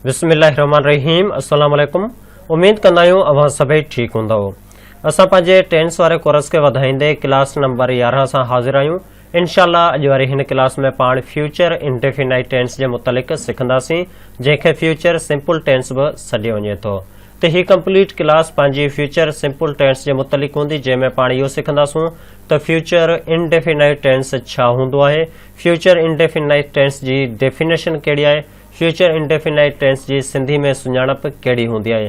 بسم الله الرحمن الرحيم السلام عليڪم اميد ڪندا آهيون اوهان سڀئي ٺيڪ هوندؤ اسان پنهنجي ٽينس واري ڪورس کي وڌائيندي ڪلاس نمبر يارهن سان حاضر آهيون انشاء الله اڄ واري هن ڪلاس ۾ پاڻ فيوچر انڊيفينائيٽ ٽينس جي متعلق سکنداسين جنهن کي فيوچر سمپل ٽينس به سڏيو وڃي ٿو ته هي ڪمپليٽ ڪلاس پنهنجي فيوچر سمپل ٽينس جي متعلق هوندي جنهن ۾ پاڻ اهو سکنداسون ته فيوچر انڊيفينائيٽ ٽينس ڇا هوندو آهي فيوچر انڊيفينائيٽ ٽينس جي ڊيفينيشن ڪهڙي آهي فيوچر انڊيفينائيٽ ٽينس جي سنڌي ۾ سڃاڻپ ڪهڙي هوندي آهي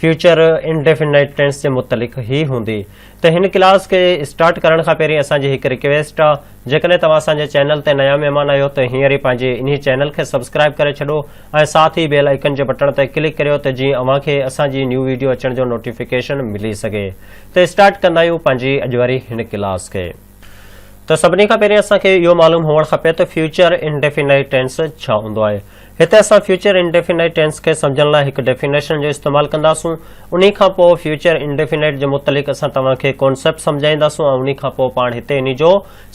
فيوچر انڊيفنائيٽ ٽينس جي متعلق هي هوندي ته هن ڪلاس کي اسٽارٽ ڪرڻ کان پهرين اسان جي هڪ رڪويسٽ آ جيڪڏهن توهان اسان جي چينل تي نيا مهمان آهيو ته هينئر ئي پنهنجي انهي چينل کي سبسڪرائب ڪري ڇڏو ۽ ساٿ ئي بيل آئيڪن جي بٽڻ تي ڪلڪ ڪريو ته جيئن اوهان کي اسان جي نيو ويڊيو اچڻ جو نوٽيفڪيشن ملي سگهي ته اسٽارٽ ڪندا آهيون پنهنجي اڄ واري هن ڪلاس کي. ته سڀني کان پهرين اسان کي اهو معلوم هئڻ کپي ته فيوچر انڊيفينائيٽ ٽينس ڇا هوندو آهي. هتي اسان فيوچر انڊيفينائيٽ ٽينس کي سمجهڻ لاء هڪ ڊيفينيشن جو استعمال ڪنداسون. انهي کان پوء فيوچر انڊيفينائيٽ جي متعلق اسان توهان کي ڪانسيپٽ سمجهائينداسون ۽ انهي کان پوء پاڻ هتي انهي جو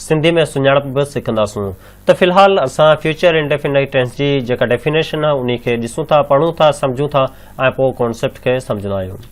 سنڌي ۾ سڃاڻپ به سکنداسون. ته في الحال اسان فيوچر انڊيفينائيٽ ٽينس جي جيڪا ڊيفينيشن آهي انهي کي ڏسون ٿا، پڙهون ٿا، سمجهون ٿا ۽ پوء ڪانسيپٽ کي سمجهندا آهيون.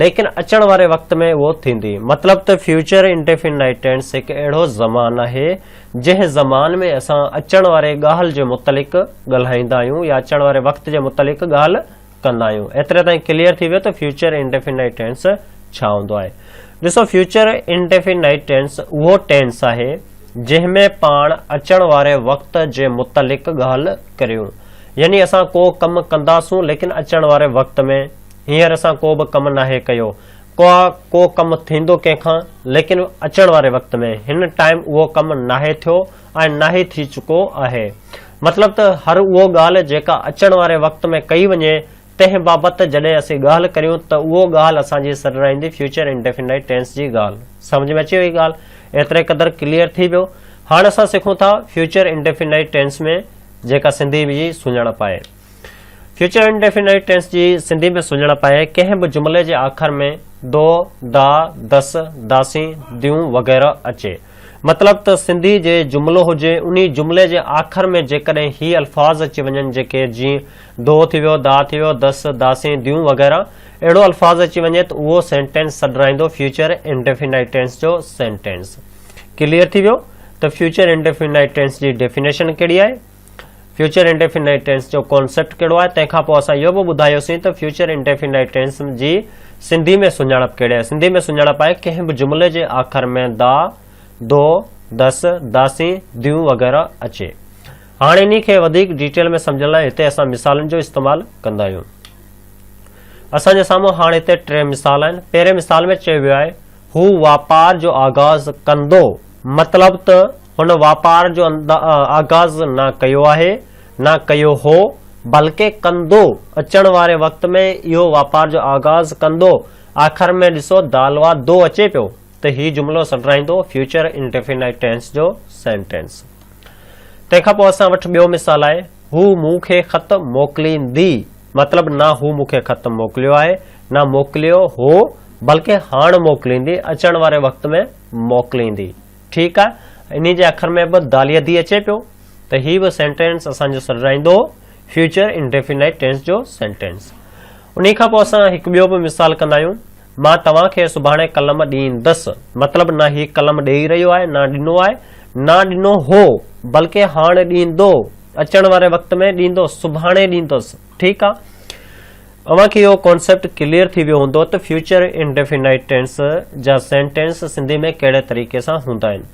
ليڪن اچڻ واري وقت ۾ اهو ٿيندي. مطلب ته فيوچر انڊيفنائيٽ ٽينس هڪ اهڙو زمان آهي، جنهن زمان ۾ اسان اچڻ واري ڳالهه جي متعلق ڳالهائيندا آهيون يا اچڻ واري وقت جي متعلق ڳالهه ڪندا آهيون. ايتري تائين ڪليئر ٿي ويو ته فيوچر انڊيفنائيٽ ٽينس ڇا هوندو آهي. ڏسو فيوچر انڊيفنائيٽ ٽينس اهو ٽينس آهي، جنهن ۾ پاڻ اچڻ واري وقت جي متعلق ڳالهه ڪريون. يعني اسان ڪو ڪم ڪنداسون ليڪن اچڻ واري وقت ۾. هينئر اسان ڪو به ڪم ناهي ڪيو. ڪا ڪو ڪم ٿيندو ڪنهن کان؟ ليڪن اچڻ واري وقت ۾ هن ٽائيم اهو ڪم ناهي ٿيو ۽ ناهي ٿي چڪو آهي. مطلب ته هر اهو ڳالهه جيڪا اچڻ واري وقت ۾ ڪئي وڃي تنهن بابت جڏهن اسين ڳالهه ڪريون ته اهو ڳالهه اسان جي سر رهندي فيوچر انڊيفنڊائيڊ ٽينس جي ڳالهه. سمجهه ۾ اچي وئي ڳالهه؟ ايتري قدر ڪليئر ٿي ويو. هاڻ اسان سکون ٿا فيوچر انڊيفنڊائيڊ ٽينس ۾ جيڪا سنڌي جي سڃاڻپ آهي. فيوچر انڊيفينائيٽ ٽينس جي سنڌي ۾ سڃاڻپ آهي، ڪنهن به جملي جي آخر ۾ دو، دا، دس، داسين، ديون وغيره اچي. مطلب ته سنڌي جي جملو هجي، انهي جملي جي آخر ۾ جيڪڏهن هي الفاظ اچي وڃن جيڪي جيئن دو ٿي ويو، دا ٿي ويو، دس، داسين، ديون وغيره اهڙو الفاظ اچي وڃي ته اهو سينٽينس سڏرائيندو فيوچر انڊيفينائيٽ ٽينس جو سينٽينس. ڪليئر ٿي ويو ته فيوچر انڊيفينائيٽ ٽينس جي ڊيفينيشن ڪهڙي آهي. فيوچر انڊيفينائيٽ ٽينس جو ڪانسيپٽ ڪهڙو آهي تنهن کان پوء اسان اهو به ٻڌايوسين ته فيوچر انڊيفينائيٽ ٽينس جي سنڌي ۾ سڃاڻپ ڪهڙي آهي سنڌي ۾ سڃاڻپ آهي ڪنهن به جملي جي آخر ۾ دا دو دس داسين ديون وغيره اچي هاڻ انهي کي وڌيڪ ڊيٽيل ۾ سمجهڻ لاء هتي اسان مثالن جو استعمال ڪندا آهيون اسان جي سامهون هاڻ هتي ٽي مثال آهن پهرين مثال ۾ چيو ويو آهي هو واپار جو آغاز ڪندو مطلب ته هن واپار جو آغاز نه ڪيو آهي، نه ڪيو هو، بلڪه ڪندو، اچڻ واري وقت ۾ اهو واپار جو آغاز ڪندو. آخر ۾ ڏسو دالوا دو اچي پيو ته هي جملو سڏرائيندو فيوچر انڊيفينائيٽ ٽينس جو سينٽينس. تنهن کان پوء اسان وٽ ٻيو مثال آهي، هو مون کي خط موڪليندي. مطلب نه هو مون کي خط موڪليو آهي، نه موڪليو هو، بلڪه هاڻ موڪليندي، اچڻ واري وقت ۾ موڪليندي. ٺيڪ آ انهي جي اکر ۾ به داليه دي اچي پيو ته هي به سينٽينس اسان جو سڏرائيندو هو فيوچر انڊيفينائيٽ ٽينس جو سينٽينس انهي کان پوء اسان هڪ ٻيو به مثال ڪندا آهيون مان توهان کي سڀاڻي قلم ڏيندس مطلب نه هي قلم ڏيئي رهيو آهي نه ڏنو آهي نه ڏنو هو بلڪه هاڻ ڏيندو اچڻ واري وقت ۾ ڏيندو سڀاڻي ڏيندس ٺيڪ آ اوهان کي اهو ڪانسيپٽ ڪليئر ٿي ويو هوندو ته فيوچر انڊيفينائيٽ ٽينس جا سينٽينس سنڌي ۾ ڪهڙي طريقي سان هوندا آهن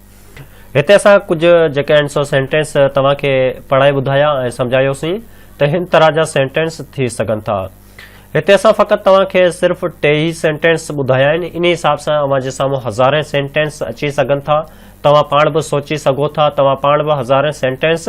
هتي اسان ڪجهه جيڪي آهن سو سينٽينس توهان کي پڙهائي ٻڌايا ۽ سمجهايوسين ته هن طرح جا سينٽينس ٿي سگهن ٿا هتي اسان فقط توهان کي صرف ٽي ئي سينٽينس ٻڌايا آهن انهي حساب سان اوهان جي سامهون هزارين سينٽينس اچي سگهن ٿا توهان پاڻ به سوچي سگهو ٿا توهان پاڻ به هزارين سينٽينس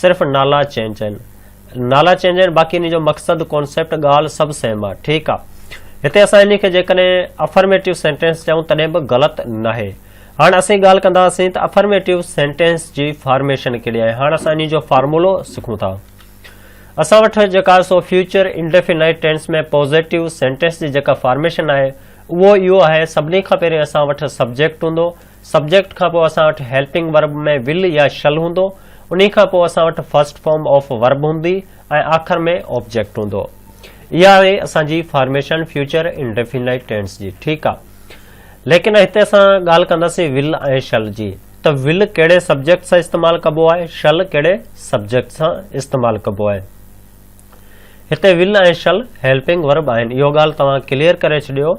صرف نالا چينج آهن. نالا چينج آهن باقي انهي جو مقصد ڪانسيپٽ ڳالهه سڀ سيم آهي ٺيڪ آهي هتي اسان انهي کي جيڪڏهن افرميٽو سينٽينس چئون تڏهن به غلط ناهي هاڻ اسين ڳالهه ڪنداسين ته افرميٽو سينٽينس جي فارميشن ڪهڙي آهي هاڻ اسان انهي جو فارمولو سکون ٿا اسان وٽ جيڪا سو future indefinite tense ۾ positive sentence جي جيڪا فارميشن آهي اهو اهو آهي سڀني کان پهرين اسان وٽ سبجيڪٽ هوندو سبجيڪٽ کان پوء اسان وٽ هيلپنگ ورب ۾ ول يا شل هوندو، انهي کان پوء اسان وٽ فرسٽ فارم آف ورب هوندي ۽ آخر ۾ آبجيڪٽ هوندو. اها آهي اسان جي فارميشن فيوچر انڊيفينائيٽ ٽينس جي، ٺيڪ آ. ليڪن هتي اسان ڳالهه ڪنداسين ول ۽ شل جي ته ول ڪهڙي سبجيڪٽ سان استعمال ڪبو آهي، شل ڪهڙي سبجيڪٽ سان استعمال ڪبو آهي. هتي ول ۽ شل هيلپنگ ورب آهن اهو ڳالهه توهان ڪليئر ڪري ڇڏيو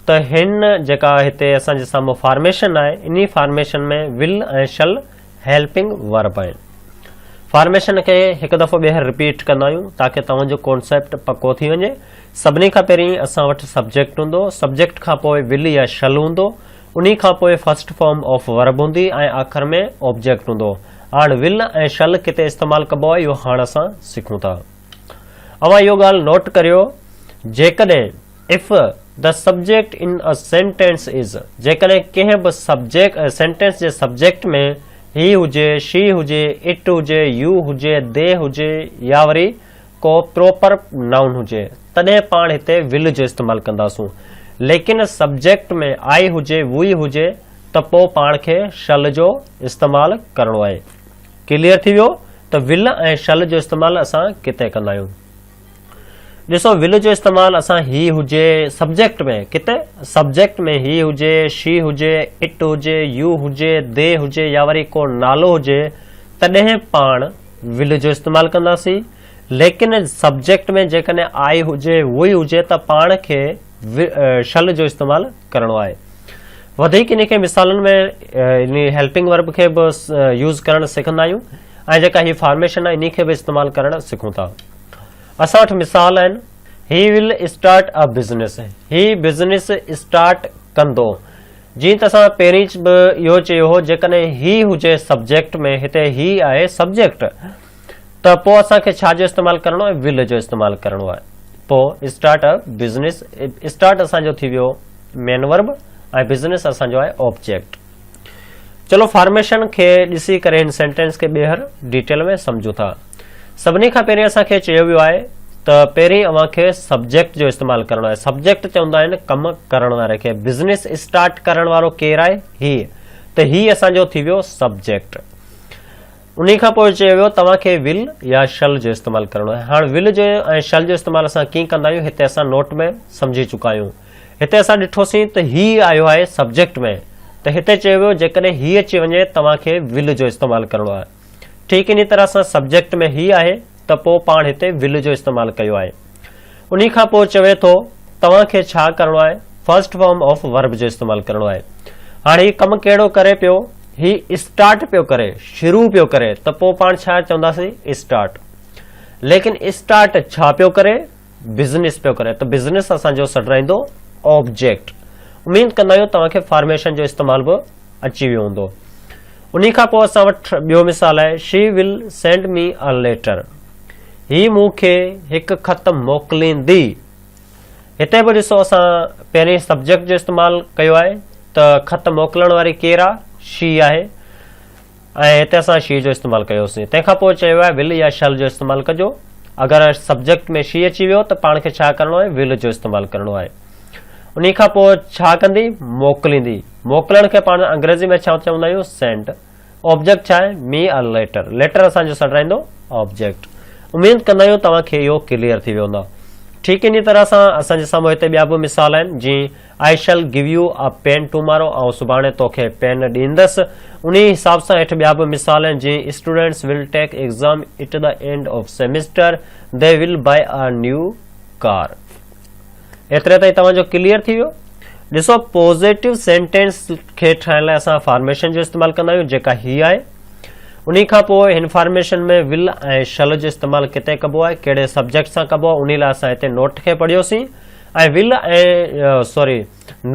ته هن جيڪا هتي اسان جي سامهون فارميشن آهي انهي formation ۾ will ۽ shall helping verb آهن فارميشن کي هڪ دفعو ٻيهر رپيٽ ڪندا آهيون تاڪي توهان جو ڪانسيپٽ پڪو ٿي وڃي سڀني کان پهرين اسان وٽ سبجيڪٽ هوندو سبجيڪٽ کان پوء ول يا شل هوندو انهي کان پوء فرسٽ فارم آف ورب هوندي ۽ آخر ۾ آبجيڪٽ هوندو هاڻ will ۽ shall ڪٿي استعمال ڪبو آهي اهو هاڻ اسان سکون ٿا. اوهان اهو ڳالهه نوٽ ڪريو جيڪڏهن If the subject in a sentence is جيڪڏهن ڪنهن به سبجيڪ سينٽينس جي سبجيڪٽ ۾ هي هجي، شي هجي، اٽ هجي، يو هجي، دي هجي يا وري ڪو پروپر نائون هجي تڏهن پاڻ هتي will جو استعمال ڪنداسون ليڪن سبجيڪٽ ۾ I هجي، We هجي ته پوء پاڻ کي شل جو استعمال ڪرڻو آهي. ڪليئر ٿي ويو ته ول ۽ شل جو استعمال اسان ڪتي ڪندا آهيون. ڏسو ول جو استعمال اسان هي هجي سبجيڪٽ ۾ ڪتي سبجيڪٽ ۾ هي هجي شي هجي اٽ هجي يو هجي دي هجي يا وري ڪو نالو هجي تڏهن پاڻ ول جو استعمال ڪنداسين ليڪن سبجيڪٽ ۾ جيڪڏهن آء هجي وئي هجي ته پاڻ کي شل جو استعمال ڪرڻو آهي وڌيڪ انهي کي مثالن ۾ انهي هيلپنگ ورب کي به يوز ڪرڻ سکندا آهيون ۽ جيڪا هي فارميشن آهي انهي کي به استعمال ڪرڻ سکون ٿا اسان وٽ مثال آهن he will start a business هي بزنس اسٽارٽ ڪندو جيئن ته اسان پهرين به اهو چيو هو جيڪڏهن هي هجي سبجيڪٽ ۾ هتي هي آهي سبجيڪٽ ته پوء اسان کي ڇا جو استعمال ڪرڻو آهي ول جو استعمال ڪرڻو آهي پوء اسٽارٽ ا بزنس اسٽارٽ اسان جو ٿي ويو مين ورب ۽ بزنس اسان جو آهي آبجيڪٽ چلو فارميشن کي ڏسي ڪري هن سينٽينس کي ٻيهر ڊيٽيل ۾ سمجھون ٿا سڀني کان پهرين اسان کي چيو ويو آهي ته پهرين اوهان کي سبجيڪٽ جو استعمال ڪرڻو آهي سبجيڪٽ چوندا آهن ڪم ڪرڻ واري کي بزنس اسٽارٽ ڪرڻ وارو ڪير آهي هي ته هي اسان جو ٿي ويو سبجيڪٽ انهي کان پوء چيو ويو توهان کي ول يا شل جو استعمال ڪرڻو آهي. هاڻ ول جو ۽ شل جو استعمال اسان ڪيئن ڪندا آهيون هتي اسان نوٽ ۾ سمجهي چڪا آهيون. هتي اسان ڏٺوسين ته هي آيو آهي سبجيڪٽ ۾ ته هتي چيو ويو جيڪڏهن هي اچي وڃي توهان کي ول جو استعمال ڪرڻو آهي. ٺيڪ انهي طرح سان سبجيڪٽ ۾ هي آهي ته پوء پاڻ هتي ول جو استعمال ڪيو آهي. انهي کان پوء چوي ٿو توهان کي ڇا ڪرڻو آهي فرسٽ فارم آف ورب جو استعمال ڪرڻو آهي. هاڻ هي ڪم ڪهڙو ڪري پيو هي اسٽارٽ پيو ڪري شروع پيو ڪري ته پوء پاڻ ڇا چونداسين اسٽارٽ ليڪن اسٽارٽ ڇا پيو ڪري؟ بزنس پيو ڪري ته بزنس اسان جو سڏرائيندو آبجيڪٽ. اميد ڪندا آهيون توهان کي فارميشن جو استعمال به اچي ويو هوندو. انهي کان پوء اسان وٽ ٻيو مثال آهي شي ول سينڊ مي اي ليٽر. هي مون کي هڪ خط موڪليندي. هتي به ڏسو اسان پهرين سبجيڪٽ جو استعمال ڪيو آهي ته خط موڪلڻ واري ڪير آهي شي آهي ۽ هتي اسان شي جو استعمال ڪيوسين. تنهن کان پوء چيو آهي ول يا شل جو استعمال ڪجو. اگر سبجيڪٽ ۾ شي اچي ويو ته پاڻ کي ڇا ڪرڻو آهي؟ ول جو استعمال ڪرڻو آهي. انهي کان پوء ڇا ڪندي؟ موڪليندي. موڪلڻ کي پاڻ انگريزي ۾ ڇا چوندا آهيون؟ Send. آبجيڪٽ ڇا آهي؟ Me a letter. ليٽر اسان جو سڏرائيندو آبجيڪٽ. اميد ڪندا آهيون توهان کي اهو ڪليئر ٿي ويو هوندا. ٺيڪ انهي طرح سان اسان جي سامهون هتي ٻيا به مثال آهن جيئن. I shall give you a pen tomorrow آئون سڀاڻي توکي پين ڏيندس. انهيء حساب سان هيٺ ٻيا به مثال آهن جيئن students will take exam at the end of semester, they will buy a new car. ايتري تائين توهان جو ڪليئر ٿي ويو. ڏسو پوزيٽو سينٽينس کي ٺاهڻ لاء اسان فارميشن جو استعمال ڪندا آهيون جيڪا هي آهي. انهي کان پوء هن فارميشن ۾ ول ۽ شل جو استعمال ڪتي ڪبو آهي، ڪهڙي سبجيڪٽ سان ڪبو آهي انهي لاء اسان هتي نوٽ کي پڙهيوسين. ۽ ول ۽ سوري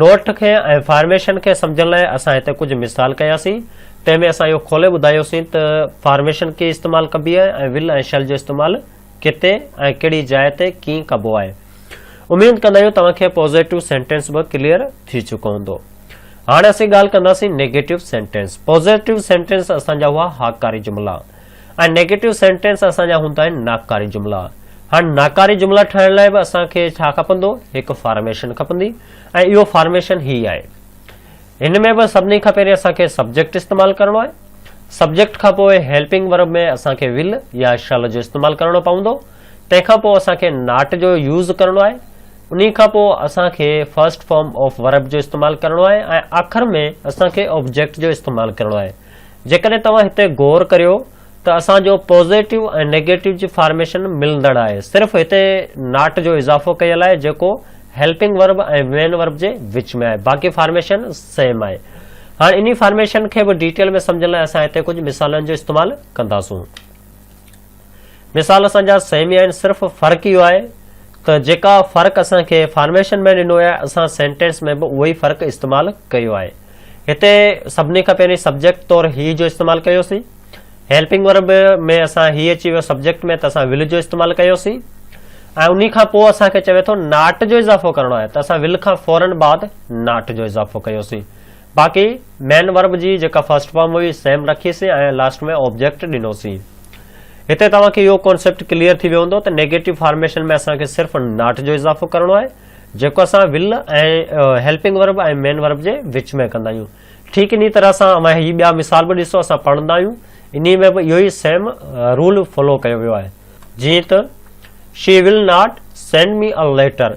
نوٽ کي ۽ فارميشن کي سمجهڻ لاء اسان هتي ڪجهه مثال ڪياسين تنهن ۾ اسان اهو کولي ٻڌايوسين ته فارميشن ڪي استعمال ڪبي آهي ۽ ول ۽ شل جو استعمال ڪتي ۽ ڪهڙي جاء تي ڪين ڪبو آهي اميد ڪندا آهيون توهان کي پوزيٽو سينٽينس به ڪليئر ٿي چڪو هوندو هاڻي اسين ڳالهه ڪنداسين نيگيٽو سينٽينس پوزيٽو سينٽينس اسان جا هئا هاڪاري جملا ۽ نيگيٽو سينٽينس اسان جا هوندا آهن ناڪاري جملا. هاڻ ناڪاري جملا ٺاهڻ لاء به اسان کي ڇا کپندو؟ هڪ فارميشن کپندي ۽ اهو فارميشن هي آهي. هن ۾ به سڀني کان پهرين اسان کي سبجيڪٽ استعمال ڪرڻو آهي. سبجيڪٽ کان پوء هيلپنگ ورب ۾ اسان کي ول يا شل جو استعمال ڪرڻو پوندو. تنهن کان پوء اسان کي ناٽ جو يوز ڪرڻو آهي. انهي کان پوء اسان کي فرسٽ فارم آف ورب جو استعمال ڪرڻو آهي ۽ آخر ۾ اسان کي آبجيڪٽ جو استعمال ڪرڻو آهي. جيڪڏهن توهان هتي غور ڪريو ته اسان جو پوزيٽو ۽ نيگيٽو جي فارميشن ملندڙ آهي صرف هتي ناٽ جو اضافو ڪيل آهي جيڪو هيلپنگ ورب ۽ وين ورب جي وچ ۾ آهي باقي فارميشن سيم آهي هاڻ انهي فارميشن کي به ڊيٽيل ۾ سمجهڻ لاء اسان هتي ڪجهه مثالن جو استعمال ڪنداسون. مثال اسان جا سيمي آهن صرف فرق اهو آهي ته جيڪا فرق اسان کي فارميشن ۾ ڏنو آهي اسان سينٽينس ۾ به اهو ئي فرق استعمال ڪيو آهي هتي سڀني کان پهرين سبجيڪٽ طور هي جو استعمال ڪيوسين هيلپنگ ورب ۾ اسان هي اچي ويو سبجيڪٽ ۾ ته اسان ول جو استعمال ڪيوسين ۽ انهي کان پوء اسان کي چوي ٿو ناٽ جو اضافو ڪرڻو آهي ته اسان ول کان فورن بعد ناٽ جو اضافو ڪيوسين باقي مين ورب جي جيڪا فرسٽ فارم هئي سيم رکي سين ۽ لاسٽ ۾ آبجيڪٽ ڏنو سين. هتي توهان کي اهو ڪانسيپٽ ڪليئر ٿي ويو هوندو ته نيگيٽو فارميشن ۾ اسان کي صرف ناٽ جو اضافو ڪرڻو آهي جيڪو اسان will ۽ helping verb ۽ main verb جي وچ ۾ ڪندا آهيون ٺيڪ انهي طرح سان اوهان هي ٻيا مثال به ڏسو اسان پڙهندا آهيون انهي ۾ به اهو ئي سيم رول فالو ڪيو ويو آهي جيئن ته she will not send me a letter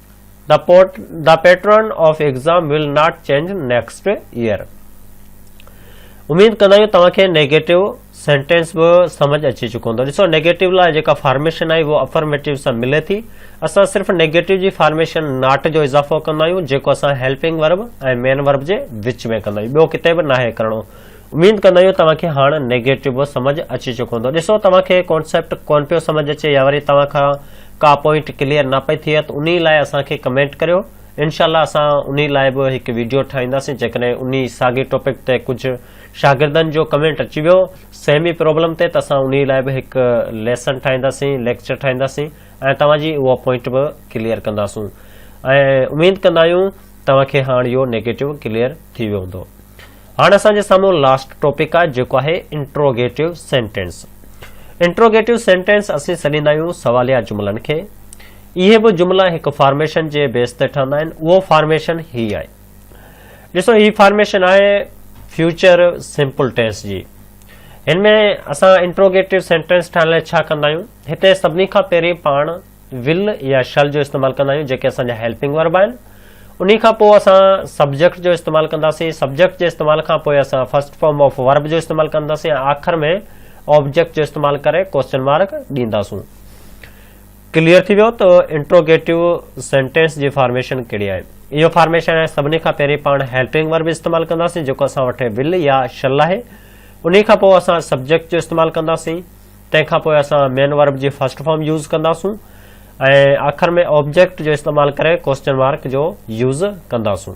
The pot the pattern of exam will not change next year. اميد ڪندا آهيون توهان کي نيگيٽو سينٽينس به سمجھ اچي چڪو هوندو ڏسو نيگيٽو لاء جيڪا فارميشن آهي اهو افرميٽو سان ملي ٿي اسان صرف نيگيٽو جي فارميشن ناٽ جو اضافو ڪندا آهيون جيڪو اسان هيلپنگ ورب ۽ مين ورب جي وچ ۾ ڪندا آهيون ٻيو ڪٿي به ناهي ڪرڻو اميد ڪندا آهيون توهان کي هاڻ نيگيٽو سمجھ اچي چڪو هوندو. ڏسو توهان کي ڪانسيپٽ ڪون پيو سمجھ اچي يا وري توهان کان ڪا پوائنٽ ڪليئر نه پئي ٿئي ته انهي لاء اسان کي ڪمينٽ ڪريو انشاء الله اسان انهي لاء به هڪ ويڊيو ٺاهينداسين جيڪڏهن انهي ساڳي ٽاپڪ تي ڪجھ شاگردن جو ڪمينٽ اچي ويو سيم ئي پرابلم تي ته اسان انهي لاء به هڪ ليسن ٺاهينداسين ليڪچر ٺاهينداسين ۽ توهان جي اهو پوائنٽ به ڪليئر ڪنداسون ۽ اميد ڪندا آهيون توهان کي هاڻ اهو نيگيٽو ڪليئر ٿي ويو هوندو. هاڻ اسان جي سامهون لاسٽ ٽاپڪ آهي جيڪو آهي انٽروگيٽو سينٽينس انٽروگيٽو سينٽينس اسين سڏيندا آهيون سواليا جملن کي اهي به جملا هڪ فارميشن جي بيس تي ٺهندا آهن اهو فارميشن هي آهي ڏسو هي فارميشن آهي فيوچر سمپل ٽينس جي هن ۾ اسان انٽروگيٽو سينٽينس ٺاهڻ لاء ڇا ڪندا آهيون هتي سڀني کان پهرين پاڻ ول يا شل جو استعمال ڪندا آهيون جيڪي اسان جا هيلپنگ ورب آهن انهي کان پوء اسان سبجيڪٽ جو استعمال ڪنداسين سبجيڪٽ جي استعمال کان پوء اسان فرسٽ فارم آف ورب جو استعمال ڪنداسين ۽ آخر ۾ آبجيڪٽ جو استعمال ڪري ڪوشچن مارڪ ڏينداسون ڪليئر ٿي ويو ته انٽروگيٽو سينٽينس جي فارميشن ڪهڙي آهي اهو فارميشن آهي سڀني کان پهرين پاڻ هيلپنگ ورب استعمال ڪنداسين جيڪو اسان وٽ ول يا شل آهي انهي کان پوء اسان سبجيڪٽ جو استعمال ڪنداسين تنهن کان پوء اسان مين ورب جي فرسٽ فارم يوز ڪنداسون ۽ آخر ۾ آبجيڪٽ جو استعمال ڪري ڪوسچن مارڪ جو يوز ڪنداسون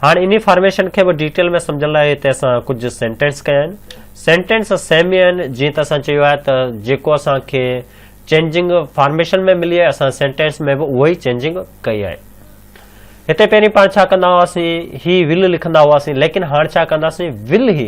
هاڻ انهي فارميشن کي به ڊيٽيل ۾ سمجھڻ لاء هتي اسان ڪجهه سينٽينس ڪيا آهن سينٽينس سيم ئي آهن جيئن ته اسان چيو آهي ته جيڪو اسان کي چينجنگ فارميشن ۾ ملي آهي اسان سينٽينس ۾ به اهو ئي چينجنگ ڪئي آهي هتي پهرين پاڻ ڇا ڪندا هئاسين هي ول لکندا هئاسين ليڪن هاڻ ڇا ڪنداسين ول هي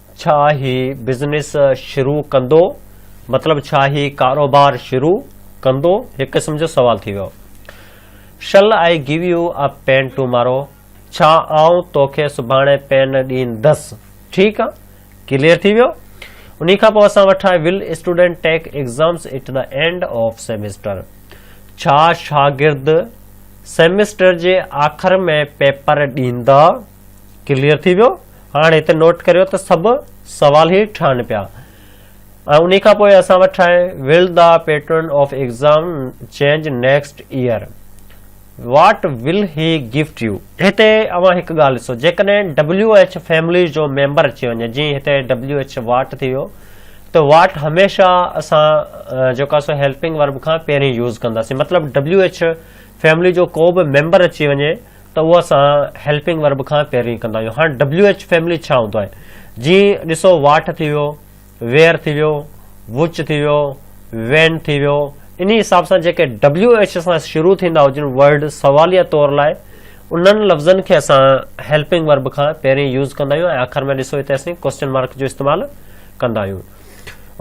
ڇا هي بزنس شروع ڪندو؟ مطلب ڇا هي ڪاروبار شروع ڪندو؟ هڪ قسم جو سوال ٿي ويو. Shall I give you a pen tomorrow؟ ڇا آئون توکي سڀاڻي پين ڏيندس؟ ٺيڪ آ. ڪليئر ٿي ويو. انهي کان پوء اسان وٽ آهي Will student take exams at the end of semester؟ ڇا شاگرد سيمسٽر جي آخر ۾ پيپر ڏيندا؟ ڪليئر ٿي ويو. هاڻ هتي نوٽ ڪريو ته سڀ سوال هي ٺهن پيا ۽ انهي کان پوء اسان وٽ ٺاهي will the pattern of exam change next year what will he gift you هتي اوهان هڪ ڳالهه ڏسو جيڪڏهن ڊبليو ايڇ فيملي جو ميمبر اچي وڃي جي هتي ڊبليو ايڇ واٽ ٿي ويو ته واٽ هميشه اسان جيڪو سو هيلپنگ ورب کان پهرين يوز ڪنداسين مطلب ڊبليو ايڇ فيملي جو ڪو به ميمبر اچي وڃي ته اهو اسان هيلپنگ ورب کان پيروي ڪندا آهيون هاڻ ڊبليو ايچ فيملي ڇا هوندو آهي جي ڏسو واٺ ٿي ويو وير ٿي ويو وچ ٿي ويو وين ٿي ويو انهي حساب سان جيڪي ڊبليو ايچ سان شروع ٿيندا هجن ورڊ سواليه طور لاء انهن لفظن کي اسان هيلپنگ ورب کان پيرين يوز ڪندا آهيون ۽ آخر ۾ ڏسو هتي اسين ڪوشچن مارڪ جو استعمال ڪندا آهيون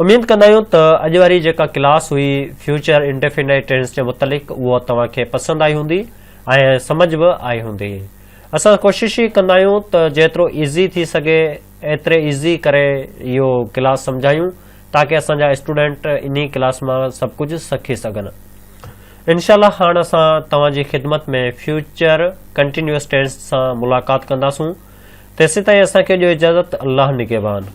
اميد ڪندا آهيون ته اڄ واري جيڪا ڪلاس هئي فيوچر انڊيفينائٽ ٽينس جي متعلق اهو توهان کي پسند آئي هوندي ۽ سمجھ به آئي هوندي. اسان ڪوشش هي ڪندا آهيون ته جيترو ايزي ٿي سگهي ايتري ايزي ڪري اهو ڪلاس سمجهايون تاڪه اسان جا اسٽوڊنٽ انهي ڪلاس مان سڀ ڪجھ سکي سگهن. انشاء الله هاڻ اسان توهان جي خدمت ۾ فيوچر ڪنٽينيوس ٽينس سان ملاقات ڪنداسون تيسيتائين اسان کي ڏيو اجازت الله نگهبان.